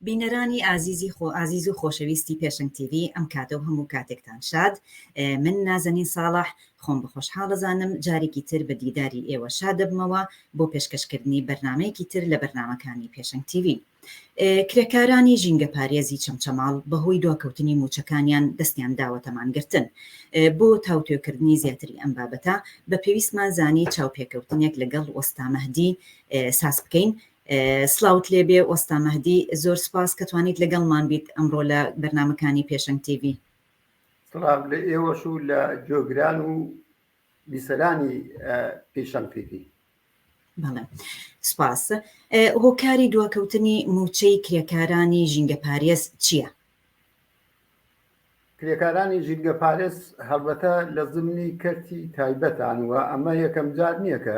بینەرانی ئازیزی خۆ ئازیز و خۆشەویستی پێشنگ تیوی ئەم کاتە و هەموو کاتێکتان شاد من نازەنین ساڵح خۆم بەخۆشحاڵەزانم جارێکی تر بە دیداری ئێوە شاد دەبمەوە بۆ پێشکەشکردنی بەرنمەیەکی تر لە بەرنمەکانی پێشنگ تیوی کرێکارانی ژینگە پارێزی چەمچەماڵ بەهۆی دواکەوتنی موچەکانیان دەستیان داوەتەمانگرتن بۆ تاوتێکردنی زیاتری ئەم بابەتە بە پێویستمان زانی چاوپێکەوتنێک لەگەڵ وەستامەهدی ساز بکەین سڵاوت لێ بێ وەستا مەهدی زۆر سوپاس کە توانیت لەگەڵمان بیت ئەمڕۆ لە بەرنمەکانی پێشەنگ تیڤ. سڵاو لە ئێوەش و لە جۆگران و بیسەرانی پیشەنگ تیڤی. بەڵێ سپاس هۆکاری دواکەوتنی موچەی کرێکارانی ژینگە پارێز چییە؟ کرێکارانی ژینگە پارێز هەڵبەتە لە زمنی کەرتی تایبەتان وە ئەمە یەکەم جار نییە کە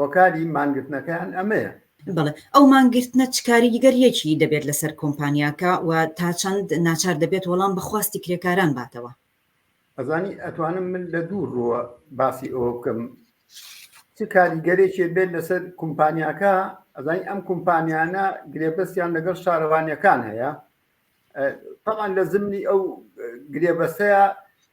هۆکاری مانگرتنەکەیان ئەمەیە. بەڵێ، ئەو مانگرتنە چ کاریگەرییەکی دەبێت لەسەر کۆمپانیاکە و تا چەند ناچار دەبێت وەڵام بە خواستی کرێکاران باتەوە؟ ئەزانی ئەتوانم من لە دوو ڕووە باسی ئەوە بکەم چ کاریگەرێکی بێت لەسەر کۆمپانیاکە، ئەزانی ئەم کۆمپانیانە گرێبەستیان لەگەڵ شارەوانیەکان هەیە، تەبعەن لە زمنی ئەو گرێبەستەیە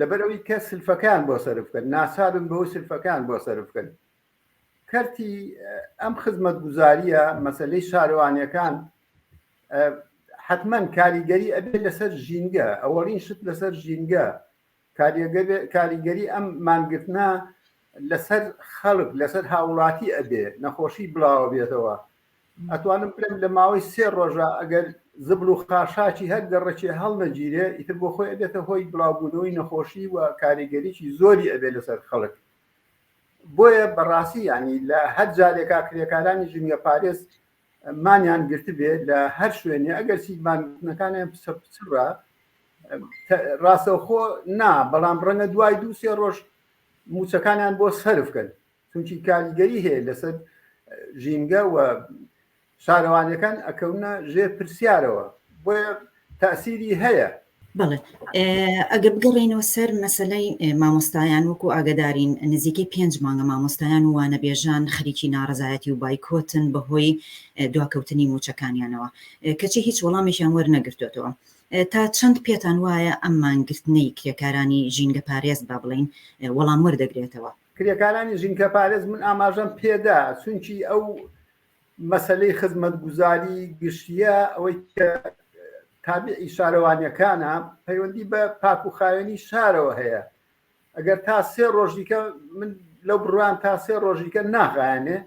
لەبەرەوەی کە سلفەکان بۆ سەرف بکەن ناسابن بەو سلفەکان بۆ سەرف بکەن کەرتی ئەم خزمەت گوزاریە مەسلەی شارەوانیەکان حتمما کاریگەری ئەبێ لەسەر ژینگە ئەوەڵین شت لەسەر ژینگە کاریگەری ئەم مانگرتنا لەسەر خەڵک لەسەر هاوڵاتی ئەبێ نەخۆشی بڵاوە بێتەوە ئەتوانم بلێم لە ماوەی سێ ڕۆژا ئەگەر زبڵ و خاشاکی هەر گەڕەکی هەڵنەگیرێ ئیتر بۆ خۆی ئەبێتە هۆی بڵاوبوونەوەی نەخۆشی و کاریگەریی زۆری ئەبێ لەسەر خەڵک بۆیە بەڕاستی یانی لە هەر جارێکا کرێکارانی ژینگە پارێز مانیان گرتبێ لە هەر شوێنێ ئەگەر سیمانەکانیان پچە پچڕە ڕاستەوخۆ نا بەڵام ڕەنگە دوای دوو سێ ڕۆژ موچەکانیان بۆ سەرفکەن چونکی کاریگەری هەیە لەسەر ژینگە و شارەوانەکان ئەکەونە ژێر پرسیارەوە بۆیە تاسیری هەیە بڵێ ئەگە بگەڕێنەوە سەر مەسلەی مامۆستایان وەکو ئاگدارین نزیکەی پێنج مانگە مامۆستایان و وانەبێژان خەریکی ناڕزایەتی و بایکۆتن بەهۆی دواکەوتنی موچەکانیانەوە کەچی هیچ وەڵامێکیان وەرنەگرتوێتەوە تا چەند پێتان وایە ئەم مانگرتنەی کرێکارانی ژینگە پارێز با بڵین وەڵام وەردەگرێتەوە کرێکارانی ژینکەپارێز من ئاماژەم پێدا چونکی ئەو مەسلەی خزمەتگوزاری گشتیە ئەوەی تابعی شارەوانیەکانە پەیوەندی بە پاک و خاوێنی شارەوە هەیە ئەگەر تا سێ ڕۆژیکە من لەو بڕوان تا سێ ڕۆژیکە ناغایانێ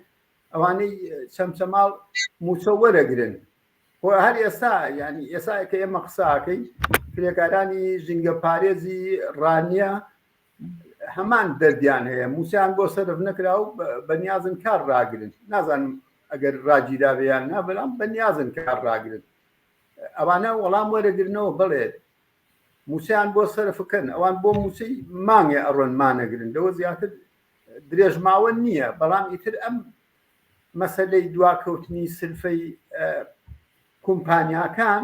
ئەوانەی چەمچەماڵ موچە وەرەگرن خۆ هەر ئێستا ینی ئێسا کە ئێمە قساکەی کرێکارانی ژینگە پارێزی ڕانیە هەمان دەردیان هەیە موسیان بۆ سەرف نەکرا و بەنیازن کار ڕاگرن نازانم ئەگەر ڕاگیراویان نا بەڵام بەنیازن کار ڕاگرن ئەوانە وەڵام وەرەگرنەوە بڵێت موسیان بۆ سەرفکەن ئەوان بۆ موسی مانگێ ئەڕۆن مانەگرن لەوە زیاتر درێژماوە نییە بەڵام ئیتر ئەم مەسلەی دواکەوتنی سلفەی کۆمپانیاکان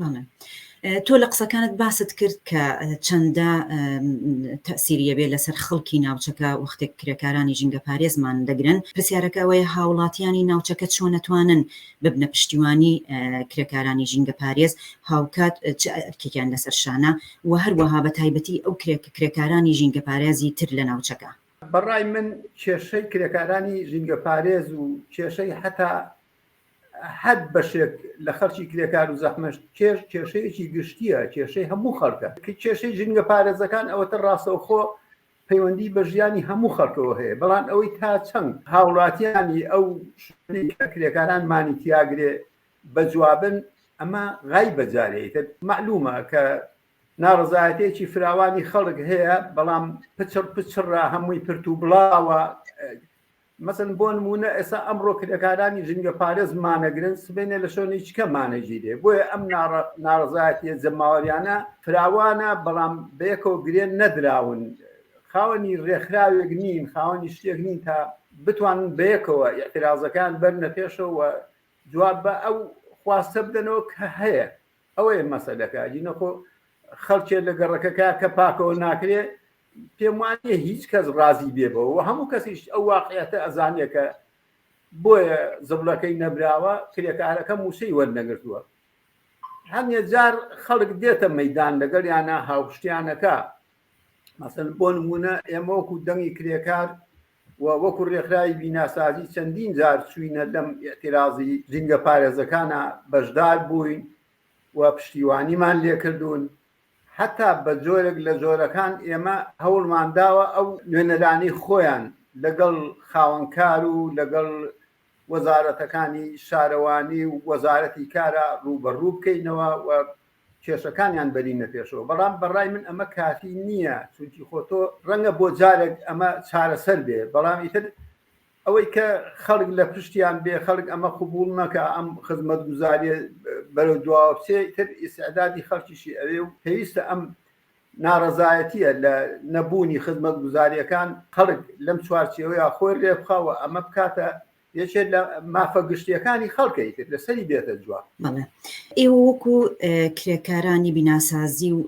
بەڵێ تۆ لە قسەکانت باست کرد کە چەندە تەسیریە بێ لەسەر خەڵکی ناوچەکە وەختێک کرێکارانی ژینگە پارێزمان دەگرن پرسیارەکەەوەی هاوڵاتیانی ناوچەکە چۆنەتوانن ببنە پشتیوانی کرێکارانی ژینگە پارێز هاوکات ئەرکێکیان لەسەر شانە و هەروەها بە تایبەتی ئەو کرێک کرێکارانی ژینگە پارێزی تر لە ناوچەکە بەڕای من کێشەی کرێکارانی ژینگە پارێز و کێشەی حتا هەر بەشێک لە خەرچی کرێکار و زەحمەشت کێش کێشەیەکی گشتیە کێشەی هەموو خەڵکە کێشەی ژنگە پارێزەکان ئەوەتە ڕاستەوخۆ پەیوەندی بە ژیانی هەموو خەڵکەوە هەیە بەڵام ئەوەی تا چەند هاوڵاتیانی ئەو کرێکاران مانی تیاگرێ بە جوابن ئەمە غای بەجارەیتە معلومە کە ناڕزایەتێکی فراوانی خەڵک هەیە بەڵام پچڕ پچڕە هەمووی پرت و بڵاوە مەسەلەن بۆ نموونە ئێستا ئەمڕۆ کرێکارانی ژینگەپارێز مانەگرن، سبەینێ لە شۆنی چکە مانەگیرێ، بۆیە ئەم ناڕەزایەتییە جەماوەرییانە فراوانە، بەڵام بەیەکەوە گرێ نەدراون، خاوەنی رێکخراوێک نین، خاوەنی شتێک نین تا بتوانن بەیەکەوە ئیعترازەکەیان بەرنە پێشەوە و جواب بە ئەو خواستە بدەنەوە کە هەیە. ئەوەیە مەسەلەکە ئەدی نەخۆ خەڵکێ لە گەڕەکەکە کە پاکەوە ناکرێ پێم وانە هیچ کەس ڕازی بێ بەوە هەموو کەسیش ئەو واقعەتە ئەزانێکە بۆیە زبلەکەی نەبراوە کرێکارەکە مووسەی وەرنەگرتووە هەندێک جار خەڵک دێتە مەدان لەگەڵ یانە هاوشتیانەکە مەسن بۆ نمونە ئێمەوەکو دەنگی کرێکار و وەکو رێکخراوی بیناسازی چەندین جار چووینە لەم ئیعترازی ژینگە پارێزەکانا بەشدار بووین و پشتیوانیمان لێکردوون هەتا بە جۆرێک لە جۆرەکان ئێمە هەوڵمان داوە ئەو نوێنەرانی خۆیان لەگەڵ خاوەنکار و لەگەڵ وەزارەتەکانی شارەوانی و وەزارەتی کارا ڕووبەڕوو بکەینەوە و کێشەکانیان بەرینە پێشەوە، بەڵام بەڕای من ئەمە کافی نییە، چونکی خۆ تۆ ڕەنگە بۆ جارێک ئەمە چارەسەر بێ، بەڵام ئیتر ئەوەی کە خەڵک لە پشتیان بێ، خەڵک ئەمە قبووڵ نەکا، ئەم خزمەتگوزارییە بەرەو دواوە بچێ، ئیتر ئیستعدادی خەڵکیشی ئەوێ و پێویستە ئەم ناڕەزایەتییە لە نەبوونی خزمەتگوزارییەکان، خەڵک لەم چوارچێوەیە خۆی رێبخا و ئەمە بکاتە یەکێ لە مافە گشتییەکانی خەڵک، ئیتر لەسەری بێتە جواب. بەڵێ ئێوە وەکو کرێکارانی بیناسازی و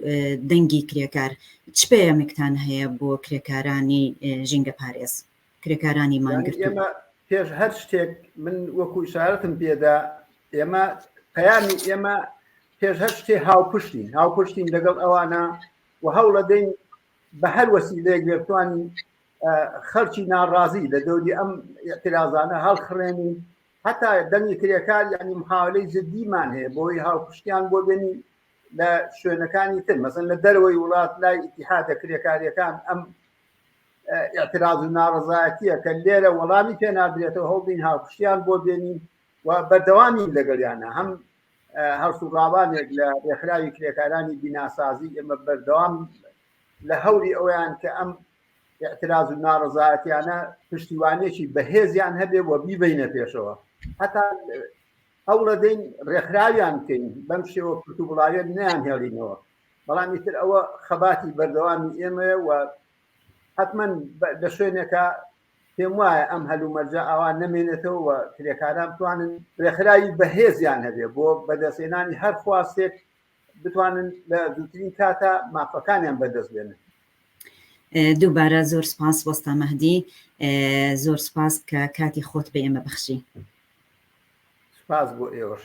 دەنگی کرێکار چ پەیامێکتان هەیە بۆ کرێکارانی ژینگەپارێز؟ کرێکارانی مانگرتوو. پێش هەر شتێک من وەکو شارەتم پێدا ئێمە پەیامی ئێمە پێش هەر شتێ هاوپشتین هاوپشتین لەگەڵ ئەوانە و هەوڵە دەین بە هەر وەسی لێک لێتوانین خەرچی ناڕازی لە دەوری ئەم اعتراضانە هەڵخڕێنین هەتا دەنگی کرێکار یعنی محاولەی جددیمان هەیە بۆی هاوپشتیان بۆ بێنی لە شوێنەکانی تر مەزن لە دەرەوەی وڵات لای ئتیحادە کرێکاریەکان ئەم ئاعتراز و ناڕزایەتیە کە لێرە وەڵامی پێ نادرێتەوە هەڵبین هاوکشتیان بۆ بێنین و بەردەوامین لەگەڵیانە هەم هەڵسوڕاوانێک لە ڕێکخراوی کرێکارانی بیناسازی ئێمە بەردەوام لە هەوری ئەویان کە ئەم اعتراض و ناڕزایەتیانە پشتیوانێکی بەهێزیان هەبێ و بیبینە پێشەوە هەتا ئەو ڕدەین ڕێکخراویان بکەین بەم شێوە پرت و بڵاوێت نیان هێڵینەوە بەڵام ئیتر ئەوە خەباتی بەردەوامی ئێمەیە و حتمما لە شوێنێکە پێم وایە ئەم هەلومەرجە ئاوا نەمێنێتەوە کرێکاران بتوانن رێکخراوی بەهێزیان هەبێ بۆ بەدەستێنانی هەر خواستێک بتوانن لە دووترین کاتە مافەکانیان بەدەست بێنن دووبارە زۆر سپاس وەستا مەهدی زۆر سپاس کە کاتی خۆت بە ئێمە بەخشی سپاس بۆ ئێوەش